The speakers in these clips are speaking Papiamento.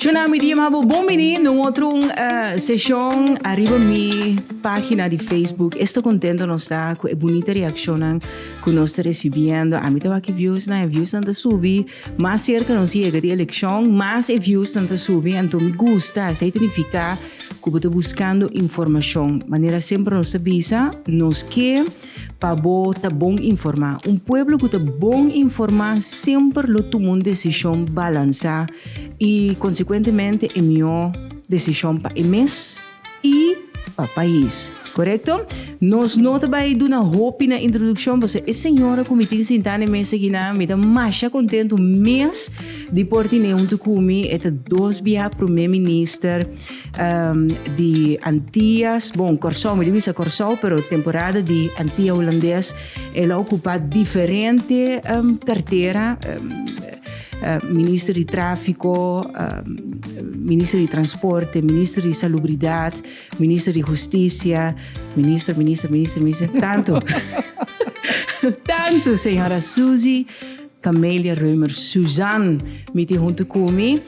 Shona mi dia mabo bon bini na un otro seshon ariba mi pagina di Facebook esta contento nos ta cu e bunita reaccionnan cu nos ta recibiendo ami ta wak e viewsnan e viewsnan ta subi Mas cerca nos yega di eleccion, mas e views nan ta subi, anto mi gusta esey ta nifica cu bo ta buscando informacion. Manera semper nos ta bisa, nos ke pa bo ta bon informa. Un pueblo cu ta bon informa semper lo tuma un decision balansa y consecuentemente e mihor decision pa e mes, i pa pais. Korekto? Nos no ta bai duna hopi na introdukshon, bo sa e señora ku mi tin sintá na e mes aki nan? Mi ta masha kontentu mes di por tine huntu ku mi e ta dos bia promé minister di Antias, bon, Kòrsou, mi ta bisa Kòrsou, pero temporada di Antia Hulandes el a okupá diferente kartera. Minister di Tráfiko, Minister di Transporte, Minister di Salubridat, Minister di Hustisia, Minister, Minister, Minister, Minister, tantu, tantu Señora Susie Camelia Römer Suzan mi tin huntu cu mi.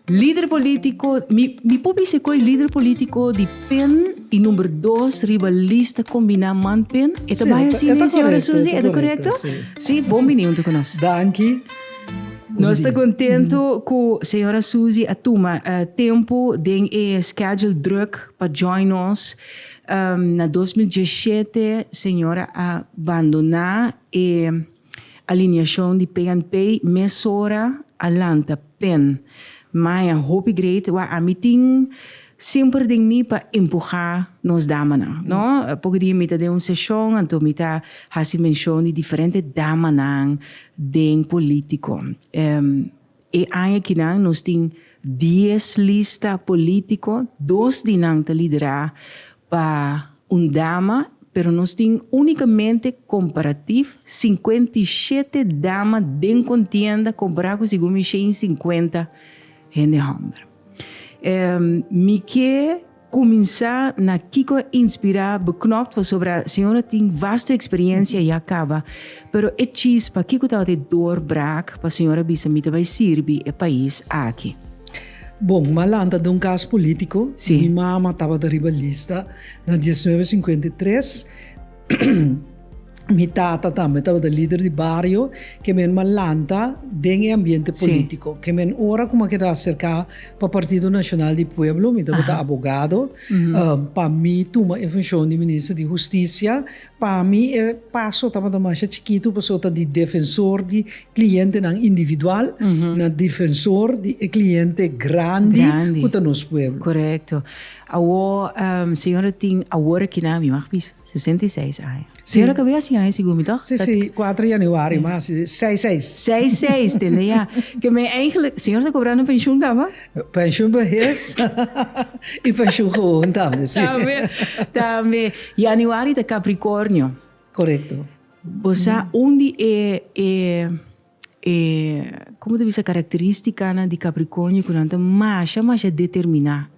Lider polítiko, mi, mi por bisa ku e lider polítiko di pen i number dos riba lista kombiná man pen. E ta Sí, bai e ta- asi e ta ne, señora korekto, e Susi? ta E ta korekto, korekto? sí. Sí, bon bini huntu ku nos. Danki. Nos ta kontentu ku señora Susi a tuma eh, tempu den e schedule druk pa join nos. Em, na dos mil diesshete señora a bandoná e. Alineashon di PNP mesora a lanta pen. Maya hopi great wak ami tin semper den mi pa empuha nos damanan no. Poco dia mi ta den un seshon anto mi ta hasi menshon di diferente damanan den politico. E aña kinan nos tin dies lista polítiko, dos di nan ta liderá pa un dama, pero nos tin únikamente komparatif sinkuenta i shete dama den kontienda kompará ku sigun mi shen i sinkuenta hende hòmber. Mi ke. Kuminsá na kiko a inspirá bo knòkt pasobra e señora tin vasto eksperiencia ya kaba, pero e chispa kiko tabata e doorbraak pa señora bisa mi ta bai sirbi e pais aki? Bon, m'a lanta den un kas polítiko. Mi mama tabata riba lista na diesnuebe sinkuenta i tres. Mi tata tambe tabata lider di bario, ke men a lanta den e ambiente politico. Ke men ora ku mi a keda aserká pa Partido Nacional di Pueblo, mi tabata abogado. Pa mi tuma e funshon di Minister di Hustisia, pa mi e paso tabata masha chikitu pasobra ta di defensor di klientenan individual na defensor di e kliente grandi ku ta nos pueblo. Korekto. Awor, señora tin awor aki na mi mag bisa, sesenta i seis aña. Señora kabia hasi aña sigur mi tog? Si, si, kuater januari mi a hasi seis seis. Seis seis, tende ya. Ke men eigenlijk, señor ta kobrando pensioen tambe? Pensioen behes i pensioen gewoon tambe, si. Tambe, tambe. Januari ta Capricornio. Korekto. Bo sa un di e, e. E como ta bisa característicanan di Capricornio cu nan ta masha masha determiná.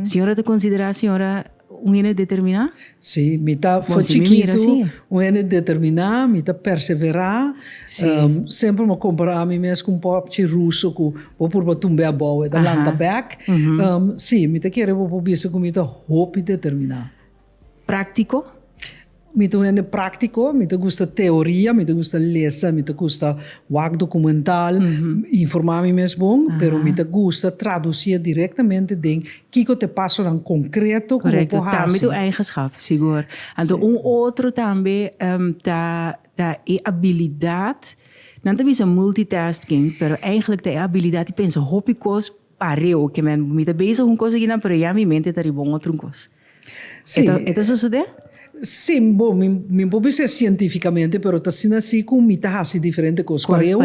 Señora ta considerá señora un hende determiná? Sí, mi ta Bon, for si mi mira chikitu así. un hende determiná, mi ta perseverá. Sí. Ehm, semper mi a compará mi mes cu un popchi ruso cu bo a purba tumbe abou, e ta Aha. lanta bek. Ehm, sí, mi ta kere bo por bisa cu mi ta hopi determiná. Práktiko? Mi ta un hende práktiko, mi ta gusta teoria, mi ta gusta lesa, mi ta gusta wak dokumental, informá mi mes bon, pero mi ta gusta tradusíe direktamente den kiko ta e pasonan konkreto ku bo por hasi. Tambe ta un eigenschap, sigur. Anto un otro tambe ta ta e abilidat, nan ta bisa multitasking, pero eigentlik ta e abilidat di pensa hopi kos pareo, ke men mi ta bezig un kos akinan pero ya mi mente ta riba un otro kos. E ta sosodé? Sí, bo, mi por bisa sientífikamente, pero ta asina sí ku mi ta hasi diferente kos pareu.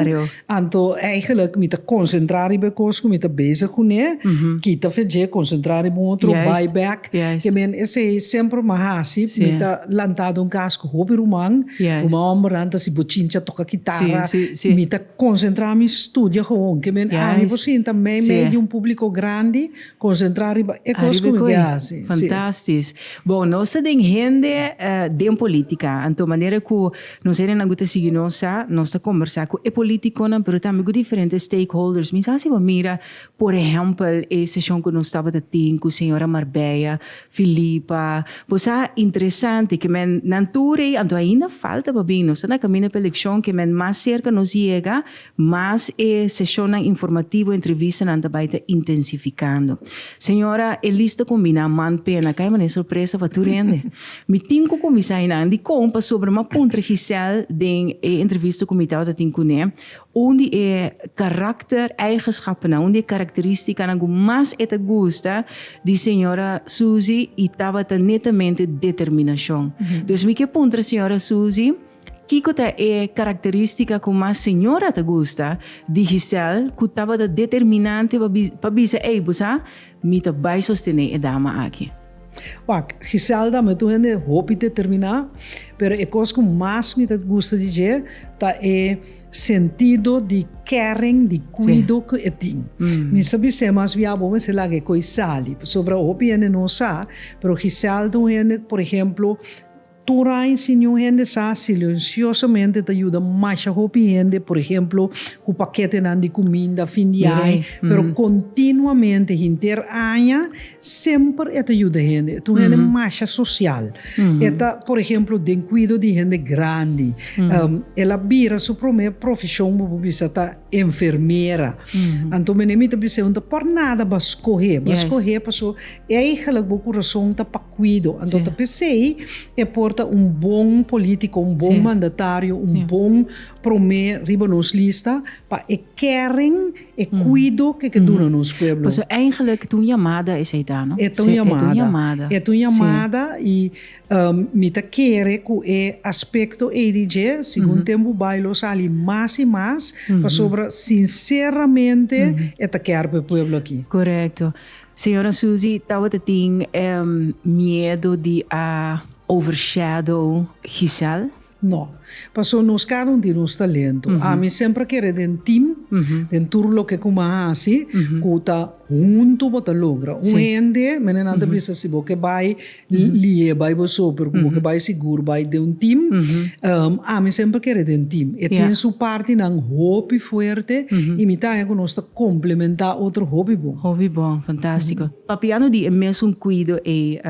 Anto eigenlijk mi ta konsentrá riba e kos ku mi ta bezig kuné, kita fe dje, konsentrá riba un otro, bai bèk. Ke men esei semper mi a hasi. Mi ta lantá den un kas ku hopi ruman, ruman hòmbernan ta hasi bochincha, toka kitarra. Mi ta konsentrá mi studia, gewon. Ke men ami por sinta meimei di un públiko grandi, Konsentrá riba e kos ku mi ke hasi. Fantastis. Bon, nos ta den hende den politika, anto manera ku nos hendenan ku ta sigui nos sa, nos ta kombersá ku e politikonan pero tambe ku diferente stakeholders. Mi sa si bo mira, por ehèmpel, e seshon ku nos tabata tin ku señora Marbella Filipa. Bo sa, interesante ke men, nan tur ei, anto ainda falta pa bin, nos ta na kaminda pa elekshon, ke men mas serka nos yega, Mas e seshonnan informativo entrevistanan ta bai ta intensifikando. Señora Elis ta kumbiná man pena kai manera sorpresa pa tur hende. Mi tin ku kuminsá einan dikon pasobra m'a puntra Gisèle den e entrevista ku mi tabata tin kuné un di e karakter eigenschapennan, un di e karakterístikanan ku mas e ta gusta di señora Susi i tabata netamente determinashon. Dus mi ke puntra señora Susi. Kiko ta e karakterístika ku mas señora ta gusta di Gisèl ku tabata determinante pa bisa, Ey, bo sa, mi ta bai sostené e dama aki? Wak, Gisèl ta metu hende hopi determiná, pero e kos ku mas mi ta gusta di dje ta e sentido di kèring, di kuido ku e tin. Mi sa bis'é mas bia bo mester laga e ko'i sali, pasobra hopi hende no sa, pero Gisèl ta un hende ku, por ehemplo, Tur aña si niun hende sa, silenciosamente ta yuda masha hopi hende, por ehemplo, cu paketenan di cuminda fin di aña, pero continuamente hinter aña semper e ta yuda hende. E ta un hende masha social. E ta, por ehemplo, den cuido di hende grandi. El a bira su prome profesion bo por bisa ta enfermera. Anto, mi ta bisa e un ta por nada bo a scoge, bo a scoge pasobra. E aigelijk bo kurason ta pa kuido, anto ta p'esei e por ta un bon polítiko, un bon mandatario, un bon promé riba nos lista pa e kèring, e kuido ke ke duna nos pueblo. Pasobra e aigelijk t'un yamada esei ta, no? E t'un yamada. E t'un yamada i mi ta kere ku e aspekto ei di dje segun tempu bai lo sali mas i mas pasobra sinseramente e ta kèr pa e pueblo aki. Korekto. Señora Susie tabata tin e miedo di a overshadow Giselle? No, paso nos cada un di nos ta lento. Ami semper a kere den team, den tur loke cu mi a haci, cu ta hunto bo ta logra. Un hende, menenan ta bisa si bo ke bay Lie Bijbel so, pero ku bo ke bai sigur bai den un tim. Ami semper kere den tim. E tin su partinan hopi fuerte i mi ta haña ku nos ta komplementá otro hopi bon. Hopi bon, fantástiko. Papiando di e mesun kuido ei,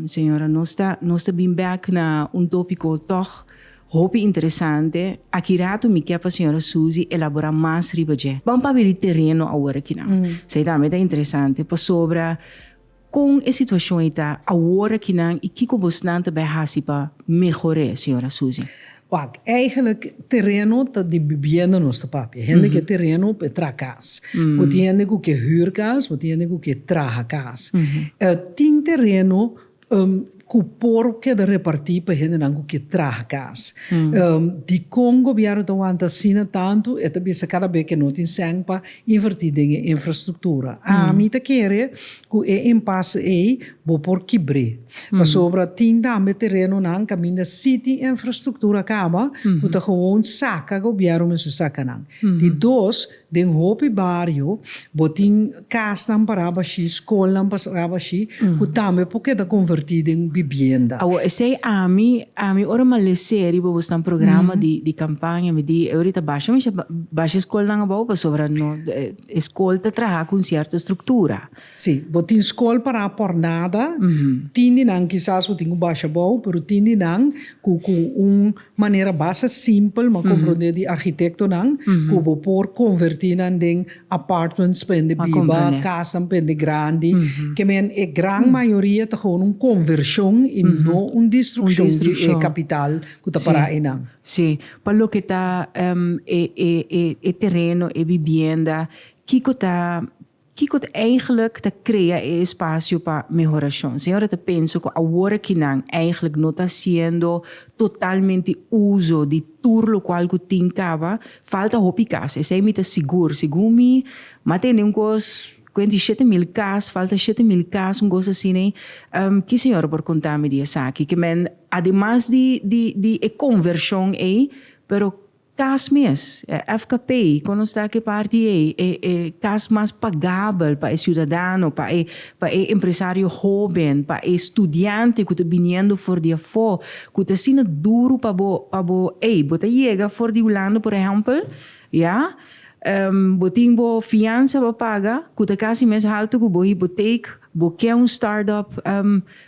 señora, nos ta nos ta bin bèk na un tópiko tòg hopi interesante. Aki ratu mi ke pa señora Suzy elaborá mas riba dje. Ban papia di tereno awor akinan. Esei tambe ta interesante pasobra Kon e situashon ei ta awor akinan i kiko bosnan ta bai hasi pa mehor'é, señora Susie? Wak, eigenlik tereno ta di bibienda nos ta papia. Hende ke tereno pa e traha kas. Bo tin hende ku ke hür kas, bo tin hende ku ke traha kas. Tin tereno. cu por keda reparti pa hendenan cu ke traha cas. Dicon Gobierno ta wanta asina tantu? E ta bisa cada be ke no tin cen pa inverti den e infrastructura. Ami ta kere cu e impasse ey bo por kibre. Pasobra tin tambe terenonan caminda si tin infrastructura caba cu ta gewoon saca Gobierno mester saca nan. Di dos, Den hopi bario bo tin kasnan pa rabashi, skolnan pa rabashi ku tambe por keda konvertí den bibienda. Awo esei ami ami ora malesé riba bo snan programa di kampaña mi di obrita basha mi sha basha skolnan abou pasobra no e skol ta traha ku un sierto struktura. Sí, bo tin skol pa ra pòrnada, tin di nan kisas bo tin ku basha abou pero tin di nan ku ku un Manera basta simpel ma komprondé di arkitektonan ku bo por konvertí nan den apartments pa hende biba, kasanan pa hende grandi. Ke men e gran mayoria ta gewoon un konvershon i no un distrukshon di e kapital ku ta pará einan. Sí. Pa loke ta e tereno, e bibienda, kiko ta Kiko ta eigenlik ta krea e espasio pa mehorashon? Señor a ta penso ku awor aki nan eigenlik no ta hasiendo totalmente uso di tur lokual ku tin kaba. Falta hopi kas, esei mi ta sigur. Segun mi, mi a tende un kos kuenta di shete mil kas, falta shete mil kas, un kos asina. Ki señor a por konta mi di esaki? Ke men ademas di e konvershon ei, pero Kas mes, e FKP, kon nos ta ki parti ei, e e kas mas pagabel pa e siudadano, pa e pa e empresario hoben, pa e studiante ku ta biniendo for di afó, ku ta asina duru pa bo pa bo ei, bo ta yega for di Hulanda por ehèmpel, ya, bo tin bo fiansa pa paga ku ta kasi mes haltu ku bo hipoteek, bo ke un start-up.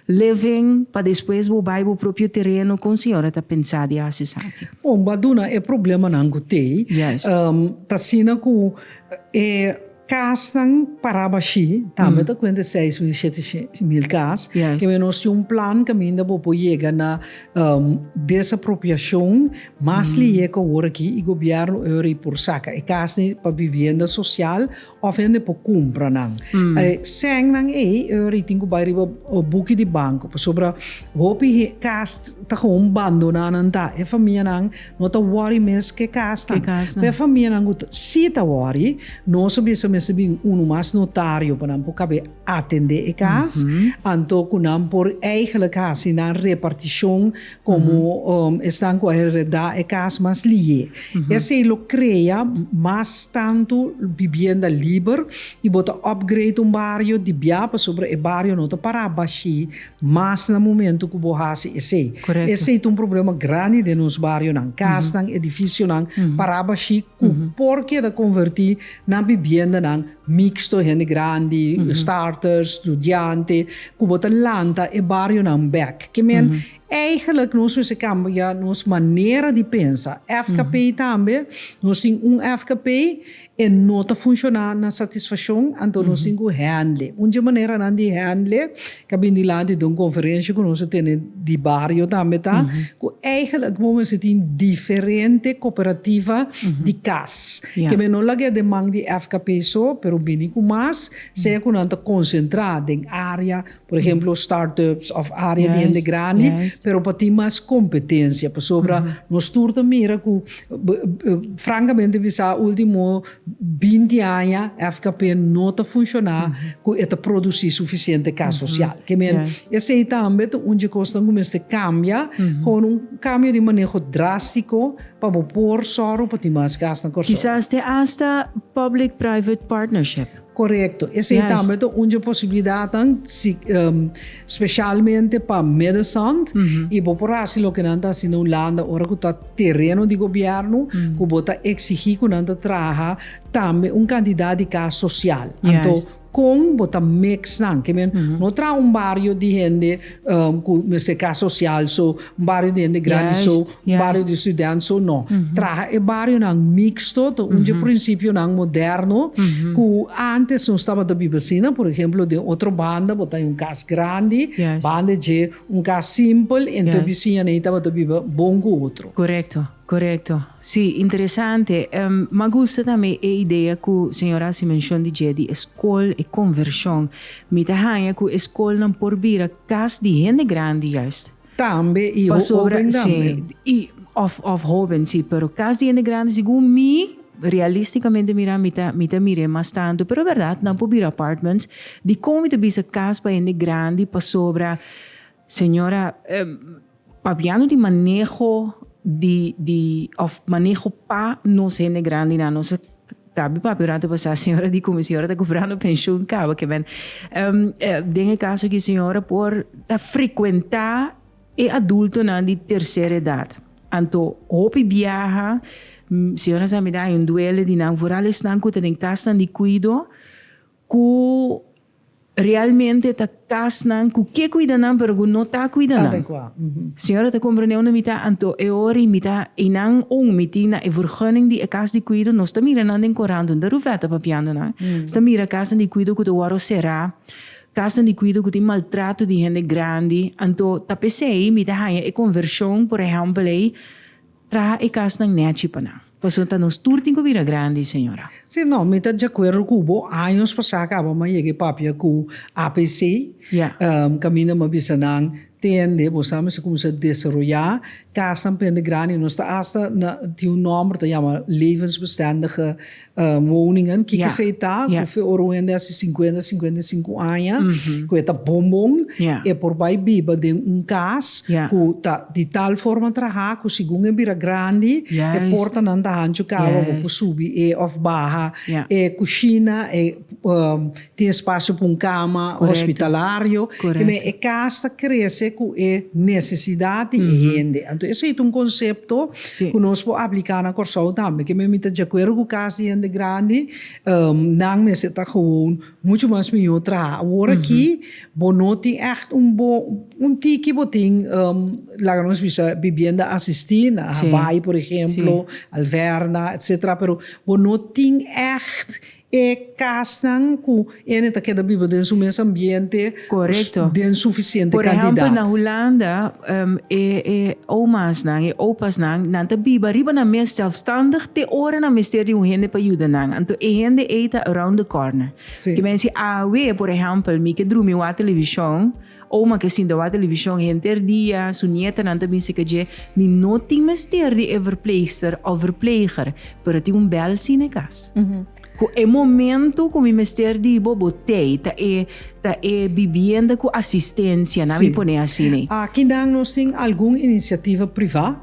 Living, pa despues bo bai bo propio tereno con señora ta pensa di haci esaki? Bon bo a duna e problemanan cu t'ey. Juist. Ta asina cu e casnan paraba ashi, tambe ta cuenta e seis mil shete mil cas, Juist. Kibe nos tin un plan caminda bo por yega na desapropiacion mas liye cu awor aki y gobierno ora y por saca e casnan pa bibienda social Of hende por cumpra nan. Seng nan ey ritin cu bay riba buki di banco pasobra hopi cas ta gewoon bandona nan ta. E famianan no ta worry mes cu e casnan. Pero e famianan cu si ta worry nos a bisa mester bin uno mas notario pa nan por cabe atende e cas anto cu nan por eigenlijk haci nan reparticion Komo esnan ku a heredá e kas mas lihé, esei lo krea mas tantu bibienda liber i bo ta òpgreit un bario di bia pasobra e bario no ta pará bashí mas na momentu ku bo hasi esei. Esei ta un problema grandi den nos barionan, kasnan, edifisionan pará bashí ku por keda konvertí na bibiendanan mixto, hende grandi, starters, studiante, ku bo ta lanta e barionan bèk. Ke men, eigenlik nos mester kambia nos manera di pensa. FKP tambe, nos tin un FKP, e no ta funshoná na satisfashon, anto nos tin ku hèndl'e. Un dje maneranan di hèndl'e. Ta bini dilanti den un conferencia cu nos a tene di bario tambe ta, cu eigenlijk bo mester tin diferente cooperativa di cas. Ke men no laga e deman di FKP so, pero bini cu mas, sea cu nan ta concentra den area, por ehemplo, start-ups of area di hende grandi, pero pa tin mas competencia. Pasobra nos tur ta mira cu, francamente bisa, ultimo Binti aña FKP no ta funshoná ku e ta produsí sufisiente kas sosial. Ke men, esei tambe ta un djekos nan ku mester kambia, hor un kambio di maneho drástiko pa bo por sòru pa tin mas kas na Kòrsou. Kisas te asta public-private partnership. Korekto, esei tambe ta un dje posibilidatnan speshalmente pa Midden-Zand i bo por hasi loke nan ta hasi na Hulanda ora ku ta tereno di gobièrnu ku bo ta eksigí ku nan ta traha tambe un kantidat di kas sosial anto kon bo ta mix nan ke men no traha un bario di hende cu mester cas social so un bario di hende grandi so un bario di student so no traha e barionan mixto ta un dje principio nan moderno cu antes nos tabata biba asina por ejemplo den otro banda bo ta den un cas grandi banda dje un cas simpel y entonces bisiñanan tabata biba bon cu otro. Korekto. Sí, interesante. Ma gusta tambe e idea ku señor hasi menshon di dje di e skol, e konvershon. Mi ta haña ku e skolnan por bira kas di hende grandi juist. Tambe, i hóben tambe. Sí, òf òf hóben, sí. Pero kas di hende grandi, segun mi, realistikamente mirá, mi ta mi ta mir'é mas tantu. Pero bèrdat, nan por bira apartments. Dikon mi ta bisa kas pa hende grandi? Pasobra Señora, pabiando di maneho di di of maneho pa nos hende grandinan, nos a cabi papia ora ta basa señora di cume señora ta cobrando pensioen caba que men. Den e caso aki señora por ta frecuenta e adultonan di tercer edad, anto hopi biaha señora sa mira hay un duele di nan, vooral esnan cu ta den casnan di cuido Cu realmente ta casnan cu ke cuida nan pero cu no ta cuida nan. Adecua. Señora ta comprende unda mi ta anto e hori mi ta eynan un mi tin na e vergunning di e cas di cuido nos ta mira nan den corant unda Ruvette ta papiando nan sta mira casnan di cuido cu ta wordo cera casnan di cuido cu tin maltrato di hende grandi anto ta pesey mi ta haya e conversion por ehempel ey Traha e casnan nechi pa nan. Pasobra ta nos tur tin cu bira grandi, señora. Si no, mi ta djacuerdo cu bo. Años pasa caba m'a yega e papia cu APC. Ya. Caminda m'a bisa nan, Tende, bo sa mester cuminsa desaroya casnan pende grandi. Nos ta hasta na tin un nomber ta yama levensbestendige Woning an kiko esei ta ku fe ora un hende hasi sinkuenta sinkuenta i sinku aña ku e ta bon bon e por bai biba den un kas ku ta di tal forma traha ku segun e bira grandi e portanan ta hanchu kaba bo por subi e òf baha e kushina e Tin spasio pa un kama hospitalario. Kibè e kas ta krese ku e nesesidat di e hende. Anto esei ta un konsepto ku nos por apliká na Kòrsou tambe. Kibè mi ta djakuerdo ku kas di hende grandi, nan mester ta gewoon muchu mas mihó traha. Awor aki bo no tin ègt un un tiki bo tin laga nos bisa bibienda asistí na Habai por ehemplo, Alverna etsetera pero bo no tin ègt E kasnan ku ene ta keda biba den su mes ambiente den sufisiente kantidat. Korekto. Por ehèmpel na Hulanda e omasnan, e opasnan, nan ta biba riba nan mes sèlfstandig te ora nan mester di un hende pa yuda nan. Anto e hende ei ta around the corner. Ke mester si awe, por ehèmpel, mi ke drumi wak televishon, Oma ke sinta wak televishon henter dia, su nietanan ta bin sika dje, Mi no tin mester di e verpleegster òf verpleeger, pero a tin un bèl sina e kas. Ku e momentu ku mi mester di bo, bo t'ei. Ta e, ta e bibienda ku asistensia, nan mi pone así nei. Sí. Aki nan nos tin algun inisiativa privá,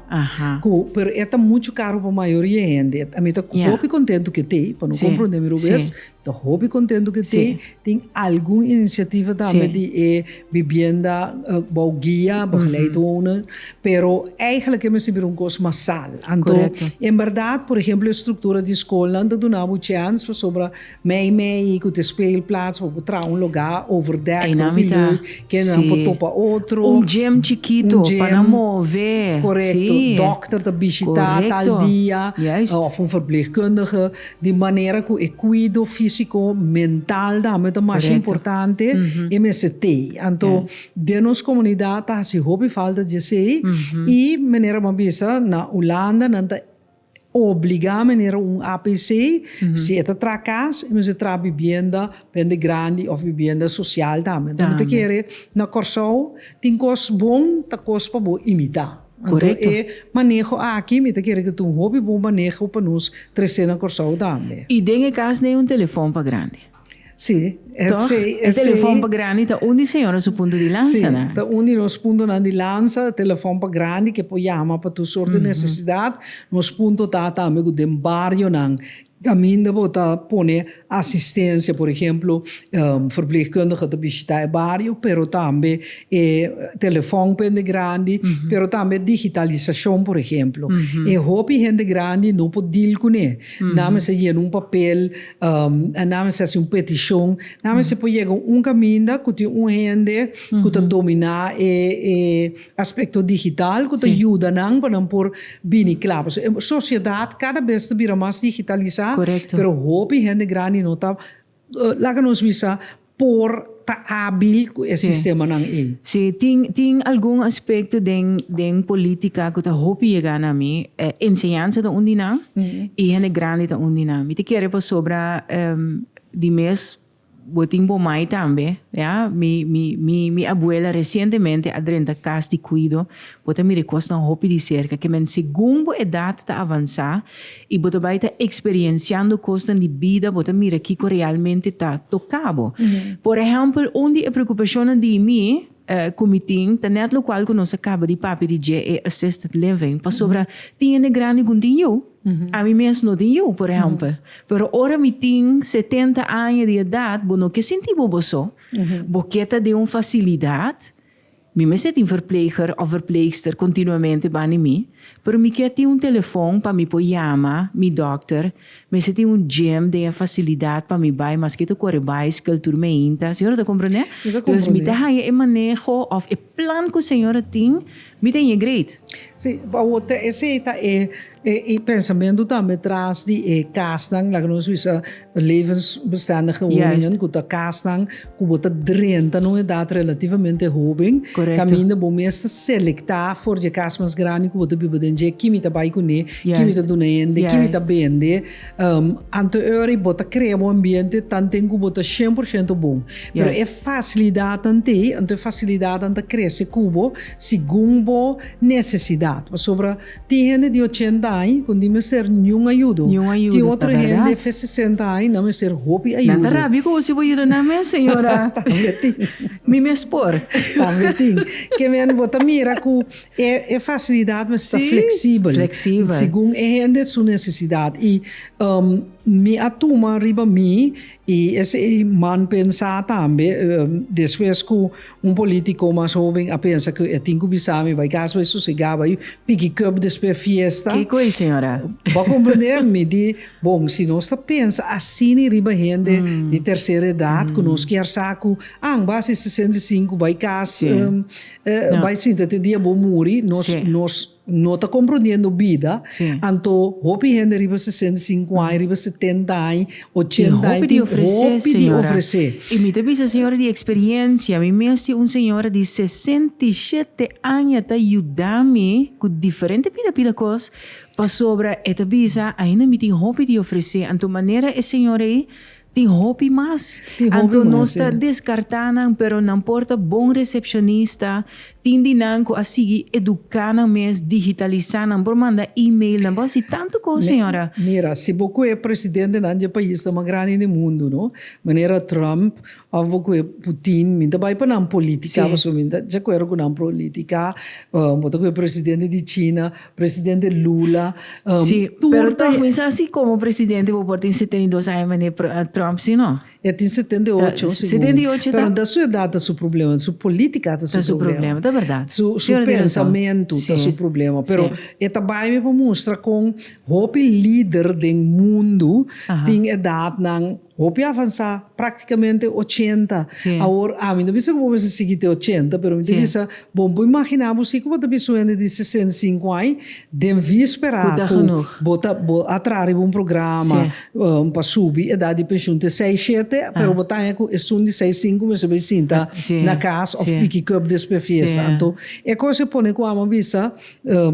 ku, pero e ta muchu karu pa mayoria hende. Mi ta hopi kontentu ku e t'ei, pa no komprondé mi robes, Ta hopi contentu cu te tin algun iniciativa tambe di e bibienda bou guia, bou geleid wonen, pero eigenlijk e mester bira un cos masal. Anto, en berdad, por ehemplo, e structura di school nan ta duna bo chance pasobra mei mei cu te speelplaats pa bo traha un loga overdek hopi lui, kendenan por topa otro. Un gym chikito pa nan move. Correcto. Dokter ta bishita tal dia of un verpleegkundige. Di manera ku e kuido físiko, mental tambe ta masha importante, e mester tei. Anto den nos komunidat ta hasi hopi falta dje esei i manera bo a bisa na Hulanda nan ta obligá manera un APC, si e ta traha kas e mester traha bibienda pende grandi òf bibienda sosial tambe. Enton mi ta kere na Kòrsou tin kos bon, ta kos pa bo imitá. Anto e maneho aki mi ta kere ku ta un hopi bon maneho pa nos tresé na Kòrsou tambe. I den e kas n'ei un telefòn pa grandi. Sí, e Tòg? sei, e sei. E telefòn pa grandi ta un di señora su punto di lansa nan. Sí, ta un di nos puntonan di lansa, telefòn pa grandi ke por yama pa tur sorto di nesesidat. Nos punto ta tambe ku den barionan Kaminda bo ta pone asistencia, por ehemplo, e verpleegkundige ta bishita e bario, pero tambe e telefon pa hende grandi, pero tambe digitalisacion, por ehemplo. E hopi hende grandi no por deal cune. Nan mester yena un papel, nan mester haci un peticion, nan mester por yega un caminda cu tin un hende cu ta domina e Aspekto digital ku ta yuda nan pa nan por bini kla. Pasobra e sosiedat kada bes ta bira mas digitalisá, pero hopi hende grandi no ta, laga nos bisa, por ta ábil ku e sistemanan ei. Si, tin, tin algun aspekto den, den polítika ku ta hopi yega na mi. Enseñansa ta un di nan i hende grandi ta un di nan. Mi ta kere pasobra di mes Bo tin bo mai tambe, ya. Mi mi mi mi abuela recientemente a drenta cas di cuido, bo ta mira e cosnan hopi di cerca, ke men segun bo edad ta avansa y bo ta bay ta experienciando cosnan di bida bo ta mira kico realmente ta toca bo. Por ehempel un di e preocupacionnan di mi E kumitin ta nèt lokual ku nos a kaba di papia di dje e assisted living pasobra tin hende grandi ku tin yu. Ami mes no tin yu, por ehèmpel. Pero ora mi tin setenta aña di edat, bo no ke sinti bo bo so. Bo ke ta den un fasilidat, mi mes e tin verpleger òf verpleegster kontinuamente bani mi, pero mi ke tin un telefon pa mi por yama mi dòkter, Mester tin un gym den e facilidad pa mi bay maske ta core bicycle tur meinta, señora ta comprende? Dus mi ta haya e maneho of e plan cu señora tin mi ta haya great. Si, pa awor ta esey ta e e pensamentu tambe tras di e casnan, laga nos bisa levensbestendige woningen cu ta casnan. ku bo ta drenta na un edat relativamente hoben, kaminda bo mester selektá for dje kas mas grandi ku bo ta biba den dje, ki mi ta bai kuné, ki mi ta duna hende, ki mi ta bende. Anteori bo ta krea bo ambiente tanten ku bo ta shen por shento bon. Pero e fasilidatnan ta ei, anto e fasilidatnan ta krese ku bo segun bo nesesidat. Pasobra. Tin hende di ochenta aña ku ni mester niun ayudo. Tin otro hende fe sesenta aña nan mester hopi ayudo. Nan ta rabia ku José por yuda nan mes, señora. Tambe tin. Mi mes por. Tambe tin. Ke men bo ta mira ku e fasilidat mester ta fleksibel. Segun e hende su nesesidat. I mi a tuma riba mi I esei man pensá tambe, despues ku un polítiko mas hóben a pensa ku e tin ku bisa mi bai kas bai sosegá, bai piki kòp despues fiesta. Kiko ei, señora? Bo a komprendé mi di, bon, si nos ta pensa asina riba hende di tersera edat ku nos kier sa ku an bai hasi sesenta i sinku, bai kas, bai sinta te dia bo muri, nos, nos. No ta komprondiendo bida, anto hopi hende riba sesenta i sinku aña, riba setenta aña, ochenta aña tin hopi di ofresé. I mi ta bisa señora di eksperiencia, mi mes tin un señora di sesenta i shete aña ta yuda mi ku diferente pila pila kos pasobra e ta bisa ainda mi tin hopi di ofresé, anto manera e señor ei Tin hopi mas. Anto nos ta descarta nan pero nan por ta bon recepcionista. Tin di nan cu a sigui educa nan mes, digitalisa nan por manda email, nan por haci tanto cos señora. Mira, si bo cu e presidentenan dje paisnan mas grandi den mundo, no? Manera Trump of bo cu e Putin, mi ta bay pa nan politica pasobra mi ta dje acuerdo cu nan prolitica. Bo ta cu e presidente di China, Presidente Lula. Um, sí, pero ta juicio así como presidente bo por tin 72 años meneer Trump, sí no? Ya tin 78, ta, 78 pero da su edad ta su problema, su política ta su, ta su problema. ta verdad. Su, su sí, pensamento sí. ta su problema, pero sí. e ta bai me pa mostra con hopi líder den mundo Aha. tin edad nan Hopi avansá, práktikamente ochenta. Awor, ami no bisa ku bo mester sigui te ochenta, pero mi ta bisa bon por imaginá bo si ku bo ta bisa un hende di sesenta i sinku aña den víspera ku bo ta bo a traha riba un programa pa subi edat di penshun te seis shete, pero bo ta haña ku esun di seis sinku mester bai sinta na kas òf piki kòp despues fiesta. Anto e kos e pone ku amo a bisa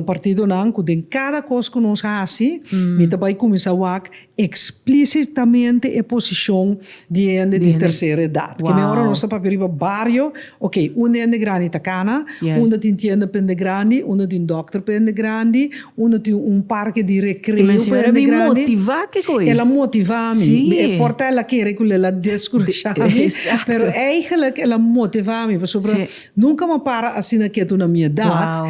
partidonan ku den kada kos ku nos hasi mi ta bai kuminsá wak explicitamente e posicion di hende di tercera edad ke men ora nos ta papia riba bario ok un di hende grandi ta cana un ta tin tienda pa hende grandi un ta tin doctor pa hende grandi un ta tin un parke di recreo pa hende grandi y men señora mi motiva kiko el a motiva mi e por ta el a kere kula el a descurasha mi pero eigenlijk el a motiva mi pasobra. Nunka m'a para asina ketu na mi edat,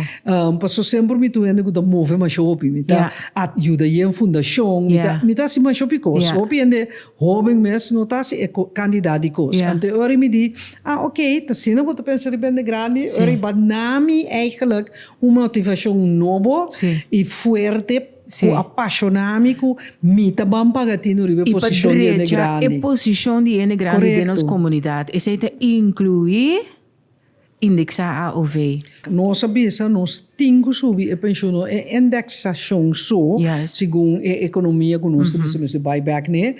paso semper mi ta un hende ku ta move masha hopi. Mi ta yuda yen fundashon, mi ta hasi masha hopi kos. Hopi hende hoben mes no ta hasi e kantidat di kos. Anto e ora mi di, a ok, ta asina bo ta pensa riba hende grandi, ora i bat na mi, eigenlijk un motivashon nobo i fuerte. ku a pashoná mi ku mi ta ban paga tinu riba e posishon di hende grandi. I pa drecha e posishon di hende grandi den nos komunidat. Esei ta inkluí indeksá AOV. Nos a bisa nos tin ku subi e penshunnan, e indeksashon so, segun e ekonomia ku nos ta bisa mester bai bèk n'e,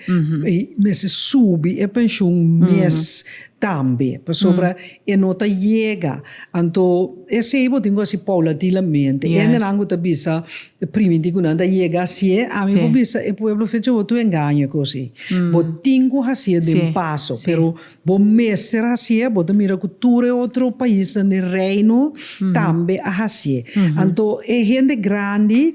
mester subi e penshun mes Tambe, pasobra e no ta yega. Anto esei bo tin ku hasi paulatinamente. E hendenan ku ta bisa primintí ku nan ta yega hasié, ami por bisa e pueblo fecha bo tur engaño e kos ei. Bo tin ku hasié den paso, pero bo mester hasié. Bo ta mira ku tur e otro paisnan den Reino tambe a hasié. Anto e hende grandi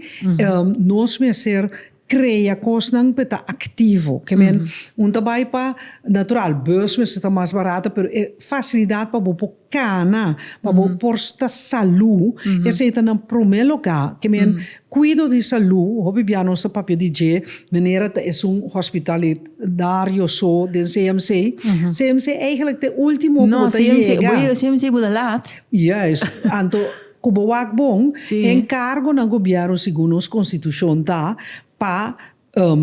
nos mester. Krea kosnan p'e ta aktivo. Ke men, un ta bai pa, natural, bus mester ta mas barato, pero e fasilidat pa bo por kana, pa bo por sta salú, esei ta nan promé lugá. Ke men, kuido di salú, hopi bia nos ta papia di dje, manera ta esun hospitalidario so den CMC. CMC, eigenlik, te último ku bo ta yega. No, CMC, bo ta lat. Juist. Anto. Ku bo wak bon, e enkargo na gobièrnu segun nos konstitushon ta pa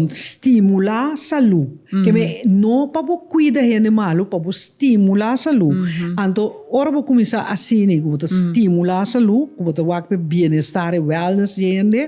stimulá salú. Ke men no pa bo kuida hende malu, pa bo stimulá salú. Anto ora bo kuminsá asina, ku bo ta stimulá salú, ku bo ta wak pa e bienestar, e wèlnès di e hende,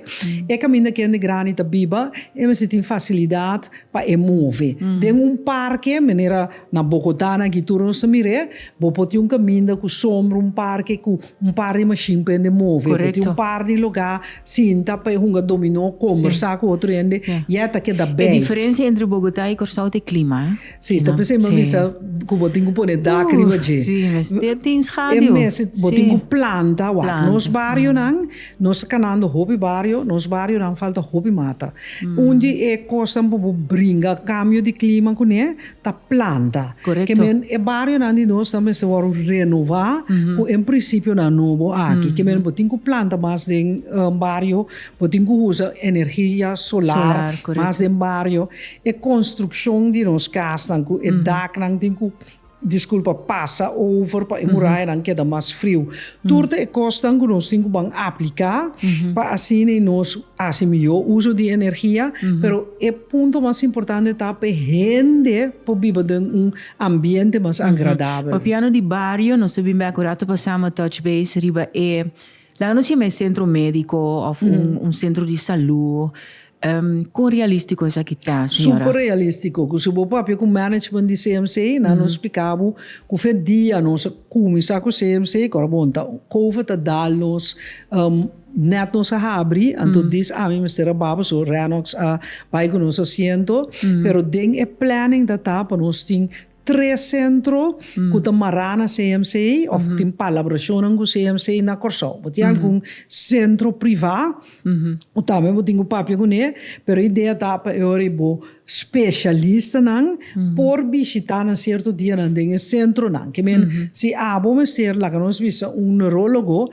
e kaminda ku hende grandi ta biba e mester tin fasilidat pa e move. Den un parke manera na Bogotá nan aki tur nos ta mir'é, bo por tin un kaminda ku sombra, un parke ku. Un par di mashin prende move bo tin un par di lugá sinta pa e hunga dominó kombersá ku otro hende i e ta keda bèi. E diferensia entre Bogotá i Kòrsou ta e klima. Si, ta p'esei mi a bisa ku bo tin ku pone dak riba dje. Si, mester tin schaduw. E mester, bo tin ku planta wak. Planta. Nos barionan, nos ta kanando hopi bario, nos barionan falta hopi mata. Un di e kosnan pa bo bringa kambio di klima kuné. ta planta. Correcto. Kemien e barionan di nos ta mester wòrdu renová ku e prinsipionan nobo aki. Kemien bo tin ku planta mas den un bario, bo tin ku usa energia solar mas den bario, e konstrukshon di nos kasnan ku e daknan tin ku, diskulpa, pasa over pa e murayanan keda mas friu. Tur ta e kosnan ku nos tin ku ban apliká pa asina nos hasi mihó uso di energia, pero e punto mas importante ta pa e hende por biba den un ambiente mas agradabel. Papia no di bario, nos ta bin bek un rato pa sama touch base riba e, laga nos yama e centro médico òf un centro di salú, Con realistico esaki ta, señora? Super realistico. Cu si bo papia cu management di CMC nan nos splica bo cu fe dia nos a cuminsa cu CMC ora bon ta Covid a dal nos net nos a habri anto dis aña mester a baba so Renox a bay cu nos asiento pero den e planning ta ta pa nos tin Tres sentro ku ta mará na CMCA òf tin palabrashonnan ku CMCA na Kòrsou. Bo tin algun sentro privá ku tambe bo tin ku papia kuné, pero e idea ta pa e ora bo speshalistanan por bishitá na sierto dianan den e sentronan. Ke men, si abo mester, laga nos bisa un neurólogo,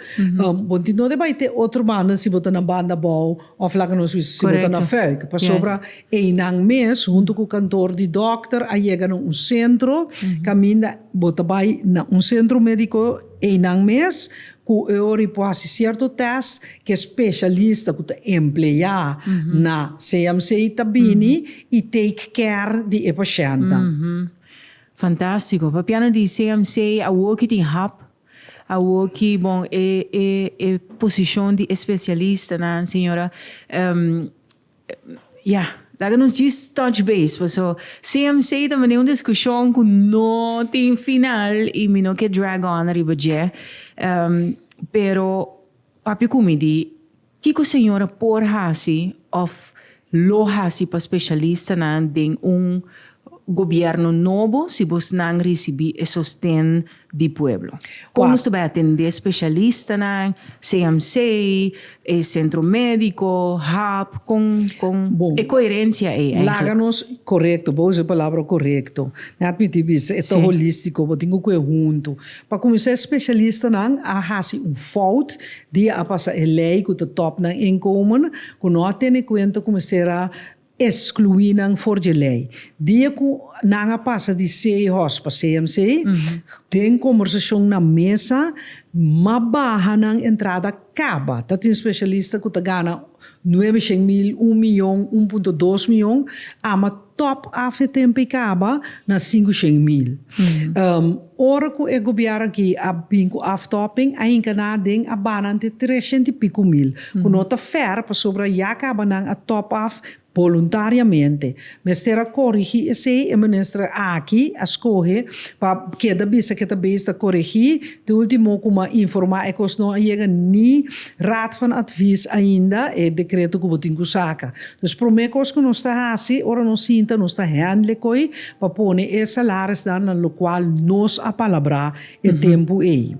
bo tin donde bai te otro banda si bo ta na banda bou. Of laga nos bisa si bo ta na fé, ke pasobra einan mes huntu ku kantor di dòkter a yega na un sentro kaminda bo ta bai na un sentro médiko einan mes ku e ora i por hasi sierto tèst ku e speshalista ku ta empleá na CMC ta bini i take care di e pashèntnan. Fantástiko. Papiano di CMC awor ki tin hap Awor ki bon e e e posishon di espesialistanan, señora ya, laga nos djis touch base paso CMC ta mane un diskushon ku no tin final i mi no ke drag on riba dje pero. Papia ku mi di kiko señora por hasi òf lo hasi pa spesialistanan den un gobièrnu nobo si bosnan risibí e sosten di pueblo. Kon nos ta bai atendé spesialistanan, CMC, e sentro médiko, hap, kon kon e koherensia ei èiklek? Laga nos, korekto, bo usa e palabra korekto. Mi a piti bisa e ta holístiko, bo tin ku kue huntu. Pa cuminsa e specialistanan a haci un fout di a pasa e ley cu ta top nan inkomen cu no a tene cuenta cu mester a exclui nan for dje ley. Dia cu nan a pasa di CEHOS pa CMC, den conversacion na mesa mas baha nan entrada caba. Ta tin specialista cu ta gana nuebe shen mil, un miyon, un punto dos miyon, ama Top af e tempu i kaba na sinku shen mil. Ora ku e gobièrnu aki a bin ku aftopping, a hinka nan aden, a bana nan te tres shent i piku mil, ku no ta fèr pasobra ya kaba nan a top af boluntariamente. Mester a korigí esei, e minister aki a skohe pa keda bisa ke ta beis ta koregí Di ultimo ku m'a informá e kos no a yega ni Raad van Advies ainda e dekreto ku bo tin ku saka. Dus promé kos ku nos ta hasi ora nos sinta nos ta hèndl'e koi pa pone e salarisnan na lokual nos a palabrá e tempu ei.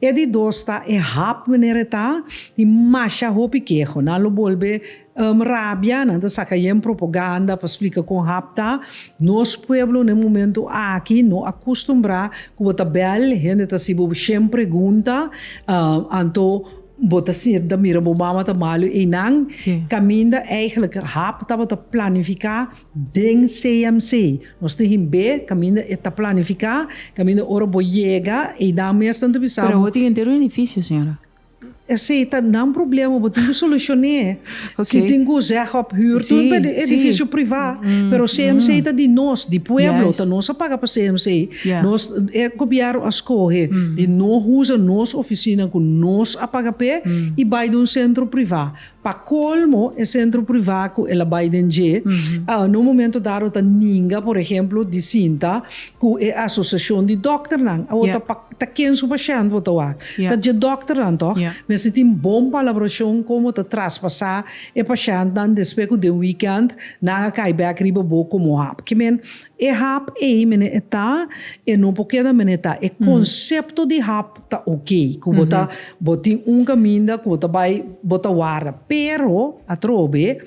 E di dos ta e hap manera e ta i masha hopi keho. Nan lo bolbe Rabia nan ta saka yen propoganda pa splika kon hap ta. Nos pueblo na e momento aki no a kustumbrá ku bo ta bèl, hende ta hasibo bo shen pregunta, anto bo ta sinti ta mira bo mama ta malu einan. Kaminda eigelijk hap tabata planifiká den CMC. Nos tin hin be kaminda e ta planifiká, kaminda ora bo yega einan mes nan ta bisa bo. Pero tin henter benefisio señora. Esei ta nan problema bo tin cu solucion'é si tin cu zeg of huur tur pa e edificio priva pero CMC ta di nos di pueblo ta nos a paga pa CMC nos e gobierno a scoge di no usa nos oficina cu nos a paga p'e y bay den un centro priva. Pa colmo e centro priva cu el a bay den dje a na un momento dado ta ninga por ehemplo di sinta cu e asociacion di dokternan. Awor ta pa ta ken su pashent bo ta wak? Ta dje dokternan toch? Mester tin bon palabracion con bo ta traspasa e pashentnan despues cu den weekend nan a cay bek riba bo como hap. Kimen E hap ei mene e ta, e no por keda mene e ta. E konsepto di hap ta ok, ku bo ta, bo tin un kaminda ku bo ta bai, bo ta warda. Pero, atrobe,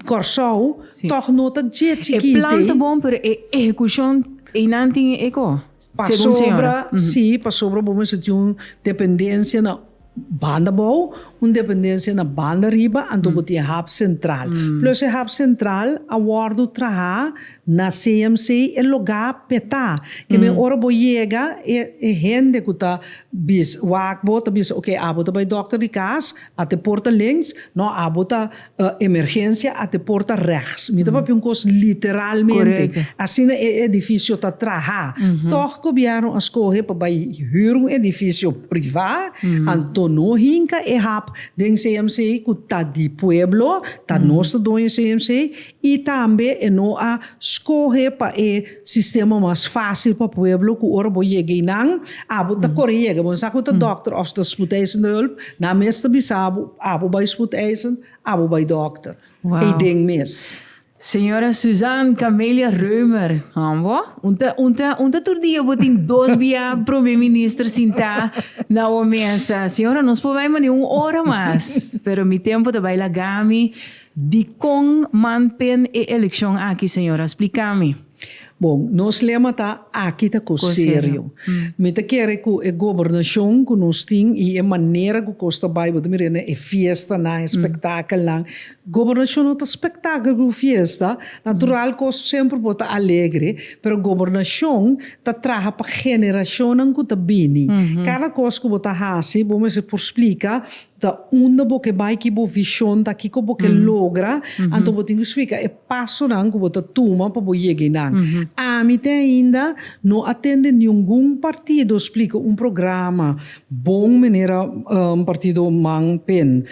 Kòrsou tòg no ta dje chikiti. E plan ta bon, pero e ehekushon, einan tin e eko, segun señora. Pasobra, si, pasobra bo mester tin un dependensia na Banda bou, un dependensia na banda riba anto bo tin e hap sentral. Plus e hap sentral a wòrdu trahá na CMC e logá petá. Kende ora bo yega e e hende ku ta bis wak bo ta bisa, oke abo ta bai dòkter di kas, a te porta links, nò abo ta E emergensia a te por ta rechts. Mi ta papia un cos literalmente. Asina e edificio ta traha. Toch gobierno a scoge pa bay huur un edificio priva, anto no hinca e hap den CMC cu ta di pueblo, ta nos ta doño CMC, y tambe e no a scoge pa e. Sistema mas fácil pa pueblo ku ora bo yega einan abo ta kore yega, bo no sa ku ta dòkter òf ta spoedeisen ta hùlp, nan mes ta bisa abo, abo bai spoedeisen, abo bai dòkter. Ei den mes. Señora Suzanne Camelia Römer, Ambo, un ta un ta un ta tur dia bo tin dos bia Prome Minister sintá na bo mesa. Señora, nos por bai manera un ora mas, pero mi tempu ta bai lagami. Dikon man ten e elekshon aki, señora? Spliká mi. Bon, nos lema ta Aki ta kos serio. Mi ta kere ku e gobernashon ku nos tin i e manera ku kos ta bai, bo ta mira na e fiestanan, e spektakelnan. Gobernashon no ta spektakel ku fiesta. Natural kos semper por ta alegre, pero gobernashon ta traha pa generashonnan ku ta bini. Kada kos ku bo ta hasi, bo mester por splika Ta unda bo ke bai, ki bo vishon ta, kiko bo ke logra, anto bo tin ku splika e pasonan ku bo ta tuma pa bo yega einan. Ami te ainda no a tende ningun partido splika un programa bon manera Partido Man Pen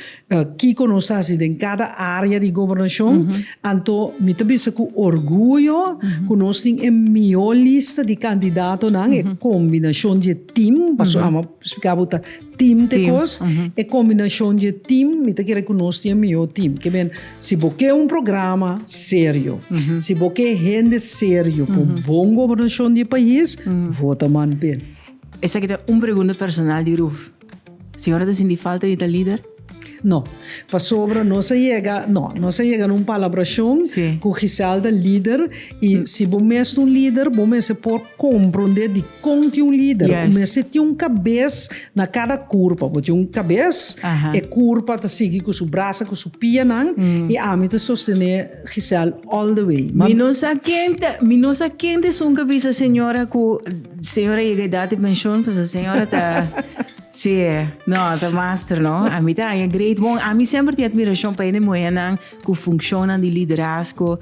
kiko nos ta hasi den kada área di gobernashon, anto mi ta bisa ku orguyo ku nos tin e mihó lista di kandidatonan, e kombinashon di e tim, pasobra ami a splika bo ta. Team t'e cos, e combinacion dje team mi ta kere cu nos tin e mihor team. Ke men, si bo ke un programa serio, si bo ke hende serio cu bon gobernacion di e pais, vota Manpe. Esaki ta un pregunta personal di Ruth. Siñora ta sinti falta di ta lider? No. Pasobra nos a yega, no, nos a yega na un palabrashon ku Gisèl ta lider i si bo mes ta un lider bo mester por komprondé dikon tin un lider. Bo mester tin un kabes na kada kurpa. Bo tin un kabes, e kurpa ta sigui ku su brasa, ku su pianan i ami ta sostené Gisèl all the way. Mi no sa ken ta, mi no sa ken ta esun kabes ta señora ku señora yega edat di penshon pasobra señora ta. Tje, no, ta master no. A mi ta haña great. Bon, a mi semper tin admiracion pa e muhernan cu funccionnan di liderazgo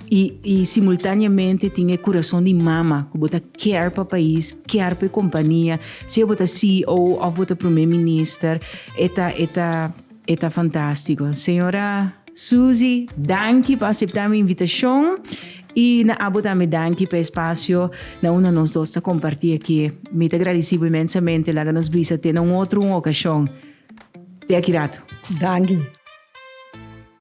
y, y simultaneamente tin e curason di mama cu bo ta care pa pais, care pa e compania, sea bo ta CEO of bo ta primer minister, e ta, e ta, E ta fantástiko. Señora Susi, danki pa aseptá mi invitashon i na abo tambe danki pa e spasio na unda nos dos ta kompartí akí. Mi ta gradisí bo imensamente. Laga nos bisa te na un otro un okashon. Te aki ratu. Danki.